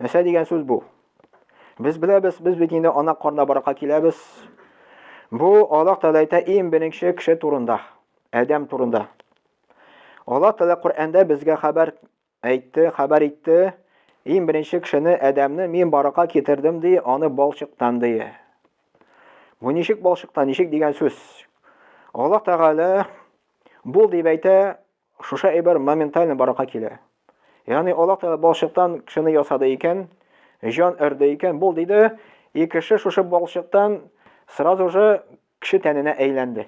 Нәрсә дигән сүз бу? Без беләбез, без бит инде ана карнына барырга киләбез. Бу Аллаһ Тәгалә әйтә иң беренче кеше турында, Адәм турында. Аллаһ Тәгалә Коръәндә безгә хәбәр әйтте, хәбәр итте, иң беренче кешене Адәмне мин барырга китердем ди, аны балчыктан ди. Бу ничек балчыктан, ничек дигән сүз? Аллаһ Тәгалә бул дип әйтә, Шушы әйбер моментально барлыкка килә. Ягъни Аллаһ Тәгалә балчыктан кешене ясады икән, җан өрде икән, бул диде, и кеше шушы балчыктан сразу же кеше тәненә әйләнде.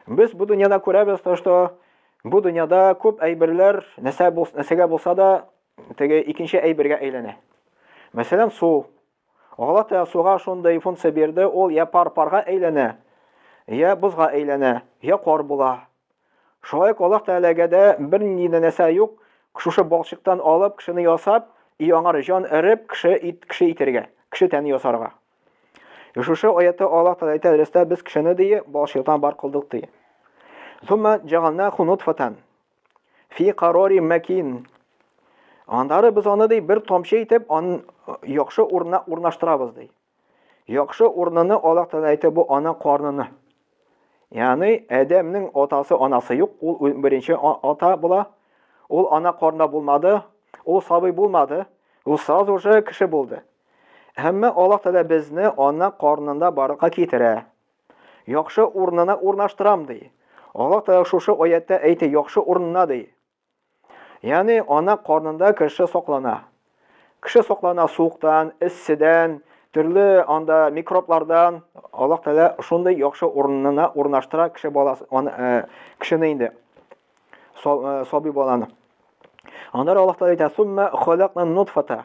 Без бу дөньяда күрәбез, то что бу дөньяда күп әйберләр нәрсә нәрсәгә булса да теге икенче әйбергә әйләнә. Мәсәлән, су. Галатеа суга шундый функция бирде, ул йә пар-парга әйләнә, йә бозга әйләнә, йә кар була. Шулай ук Аллаһ Тәгаләгә дә бернинди нәнәсә юк, шушы балчыктан алып, кешене ясап, и аңар җан эреп, кеше ит, кеше итергә, кеше тәне ясарга. И шушы аятта Аллаһ Тәгалә әйтә, Рәстә без кешене, ди, балчыктан бар кылдык, ди. Сумма җагалнаху нутфатан. Фи карори мәкин. Аннары без аны ди бер тамчы итеп ан яхшы урынына урнаштырабыз ди. Яхшы урыныны Аллаһ Тәгалә әйтә бу ана карныны. Ягъни Адәмнең атасы анасы юк, ул беренче ата була. Ул ана карнында булмады, ул сабый булмады, ул сразу уже кеше булды. Әмма Аллаһ Тәгалә безне ана карнында барырга китерә. Яхшы урынына урнаштырам, ди. Аллаһ Тәгалә шушы аятта әйтә, яхшы урынына, ди. Ягъни ана карнында кеше саклана. Кеше саклана суыктан, эсседән, төрле анда микроблардан. Аллаһ Тәгалә шундый яхшы урынына урнаштыра кеше баласы, аны э, кешене инде. Э, сабый баланы. Аннары Аллаһ Тәгалә әйтә, "Сумма халакна нутфата".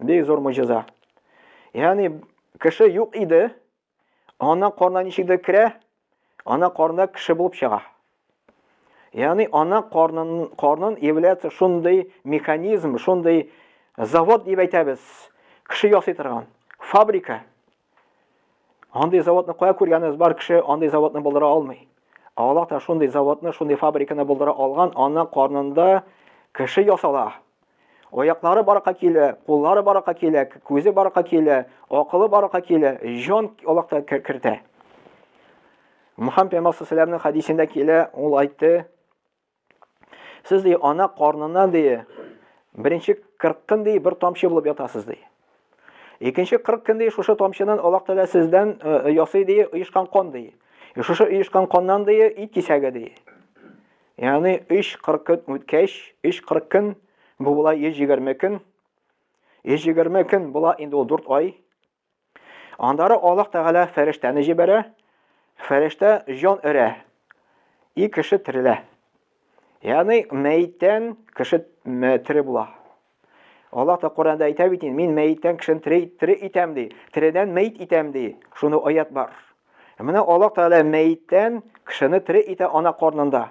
Бик зур мөҗиза. Ягъни кеше юк иде, ана карнына ничектер керә, ана карнында кеше булып чыга. Ягъни ана карнын карнын является шундый механизм, шундый завод дип әйтәбез. Кеше ясый торган фабрика. Андый заводны кая күргәнегез бар кеше андый заводны булдыра алмый. Аллаһ та шундый заводны, шундый фабриканы булдыра алган, аның карнында кеше ясала. Аяклары баракка килә, куллары баракка килә, күзе баракка килә, акылы баракка килә, җан Аллаһ та кертә. Мөхәммәд пәйгамбәр хадисендә килә, ул айтты, Сез ди ана карныннан ди беренче 40 көн ди бер тамчы булып ятасыз ди. Икенче 40 көн ди шушы тамчыдан Аллаһ Тәгалә сездән э, э, ясый ди оешкан кан ди. Э, шушы оешкан каннан ди ит кисәге ди. Ягъни 3-40 көн үткәч, 3-40 көн бу була 120 көн. 120 көн була инде ул 4 ай. Аннары Аллаһ Тәгалә фәрештәне җибәрә, фәрештә җан өрә, и кеше терелә. Ягъни мәйттән кеше тере була. Аллаһ та Коранда әйтә бит, мин мәйттән кешене тере, тере итәм ди, тередән мәйт итәм ди. Шуны аят бар. Менә Аллаһ Тәгалә мәйттән кешене тере итә ана карнында.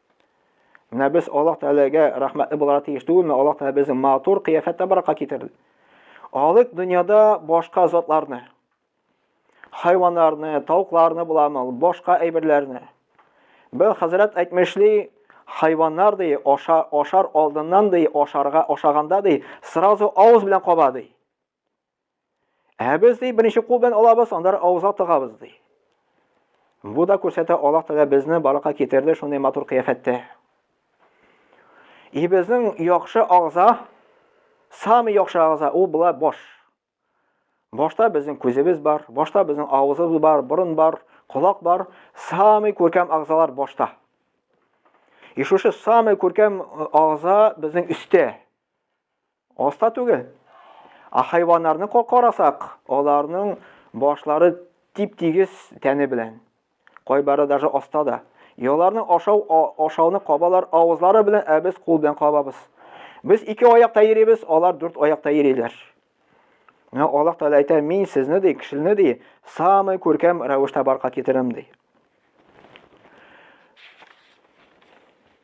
Менә без Аллаһ Тәгаләгә рәхмәтле буларга тиеш түгелме? Аллаһ Тәгалә безне матур кыяфәттә баракка китерде. Алык дөньяда башка затларны, хайваннарны, тавыкларны буламы, башка әйберләрне. Бер хәзрәт әйтмешли, хайваннар ди, ашар, ашар алдыннан ди, ашарга ашаганда ди, сразу авыз белән каба ди. Ә без ди беренче кул белән алабыз, аннары авызга тыгабыз ди. Бу да күрсәтә Аллаһ Тәгалә безне барлыкка китерде шундый матур кыяфәттә. И безнең яхшы агза, самый яхшы агза ул була баш. Башта безнең күзебез бар, башта безнең авызыбыз бар, борын бар, колак бар, самый күркәм агзалар башта. И шушы самый күркәм э, агза безнең өстә. Оста түгел. Ә хайваннарны карасак, аларның башлары тип-тигез тәне белән. Кайбары даже оста да. И аларның ашау ашауны кабалар авызлары белән, ә без кул белән кабабыз. Без ике аякта йөрибез, алар дүрт аякта йөриләр. Менә Аллаһ Тәгалә әйтә, мин сезне ди, кешене ди, самый күркәм рәвештә барка китерәм ди.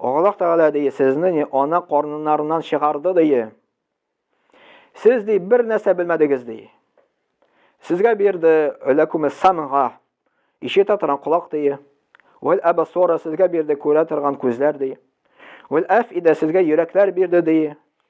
Аллаһ Тәгалә дие, сезне не ана карныннарыннан чыгарды дие. Сез ди бер нәрсә белмәдегез ди. Сезгә бирде ләкуме самга, ишетә торган колак дие. Вәл абасора сезгә бирде күрә торган күзләр дие. Вәл афида сезгә йөрәкләр бирде дие.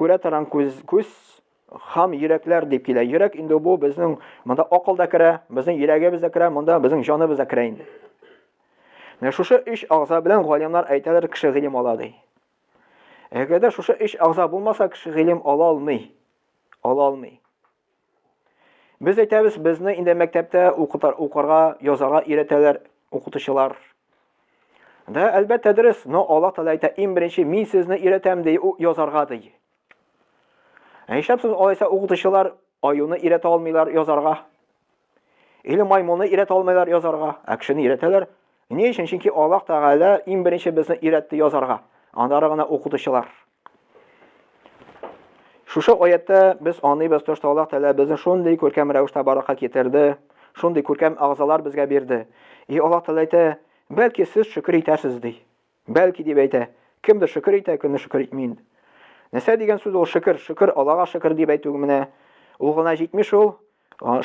Күрә торган күз, күз хам йөрәкләр дип килә. Йөрәк инде бу безнең монда акыл да керә, безнең йөрәгебез дә керә, монда безнең җаныбыз да керә инде. Менә шушы өч агза белән галимнар әйтәләр, кеше гыйлем ала ди. Әгәр дә шушы өч агза булмаса, кеше гыйлем ала алмый. Ала алмый. Без әйтәбез, безне инде мәктәптә укытар, укырга, язарга өйрәтәләр укытучылар. Да, әлбәттә дөрес, но Аллаһ Тәгалә әйтә, иң беренче мин сезне өйрәтәм ди, язарга ди. Ә нишләп алайса укытучылар аюны өйрәтә алмыйлар язарга? Или маймылны өйрәтә алмыйлар язарга? Ә кешене өйрәтәләр. Ни өчен? Чөнки Аллаһ Тәгалә иң беренче безне өйрәтте язарга. Аннары гына укытучылар. Шушы аятта без аныйбыз, тошта Аллаһ Тәгалә безне шундый күркәм рәвештә баракка китерде, шундый күркәм агзалар безгә бирде. И Аллаһ Тәгалә әйтә, бәлки сез шөкер итәрсез ди. Бәлки дип әйтә. Кемдер шөкер итә, кемдер шөкер итми инде. Нәрсә дигән сүз ул шөкер? Шөкер Аллаһга шөкер дип әйтү менә ул гына җитми шул.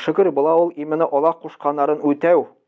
Шөкер була ул именно Аллаһ кушканнарын үтәү,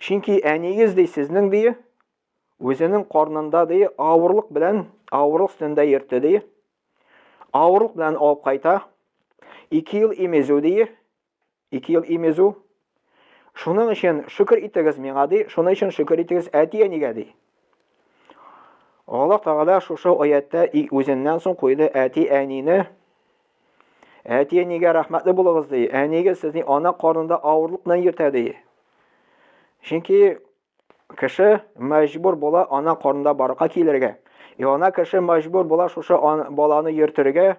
Чөнки әниегез ди сезнең ди үзенең карнында ди авырлык белән авырлык өстендә йөртте ди. Авырлык белән алып кайта. 2 ел имезү ди. 2 ел имезү. Шуның өчен шөкер итегез миңа ди. Шуның өчен шөкер итегез әти-әнигә ди. Аллаһ Тәгалә шушы аятта үзеннән соң куйды әти-әнине Әти әнигә рәхмәтле булыгыз ди. Әнигез сезне ана карнында авырлык белән йөртә ди. Чөнки кеше мәҗбүр була ана карнында барырга килергә. И ана кеше мәҗбүр була шушы баланы йөртергә.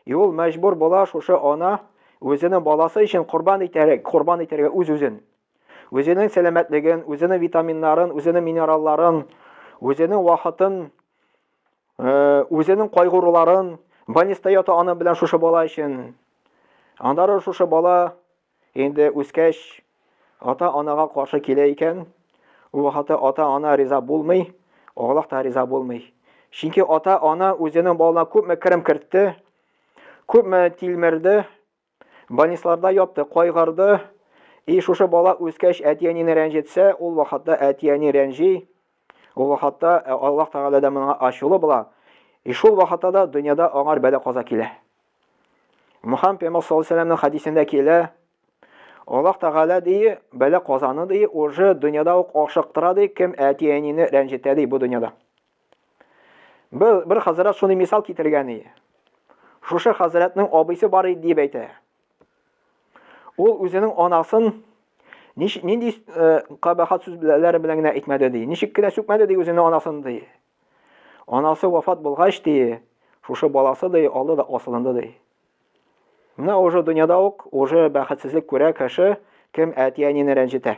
И ул мәҗбүр була шушы ана үзенең баласы өчен корбан итәргә, корбан итәргә үз-үзен. Үзенең сәламәтлеген, үзенең витаминнарын, үзенең минералларын, үзенең вакытын Э, үзенең кайгыруларын больниста ята аны белән шушы бала өчен аннары шушы бала инде үскәч ата анага каршы килә икән ул хаты ата ана риза булмый аллаһ та риза булмый чөнки ата ана үзенең балына күпме керем кертте күпме тилмерде Больницларда ятты, кайгырды. И шушы бала үскәч әти-әнине рәнҗетсә, ул вакытта әти-әни рәнҗи, ул вакытта э, Аллаһ Тәгалә дә моңа ачулы була. И шул вакытта да дөньяда аңар бәла-каза килә. Мөхәммәд пәйгамбәр саллаллаһу алейһи ва хәдисендә килә, Аллаһ Тәгалә дие, бәла-казаны дие, уже дөньяда ук ашыктыра ди, кем әти-әнине рәнҗетә ди бу дөньяда. Бер, бер хазрәт шуны мисал китергән и. Шушы хазрәтнең абыйсы бар иде дип әйтә. Ул үзенең анасын ниш, нинди э, кабахат сүзләре белән генә әйтмәде ди. Ничек кенә сүкмәде ди үзенең анасын ди. Анасы вафат булгач ди, шушы баласы ди, алды да асылынды ди. Менә уже дөньяда ук уже бәхетсезлек күрә кеше, кем әти-әнине рәнҗетә.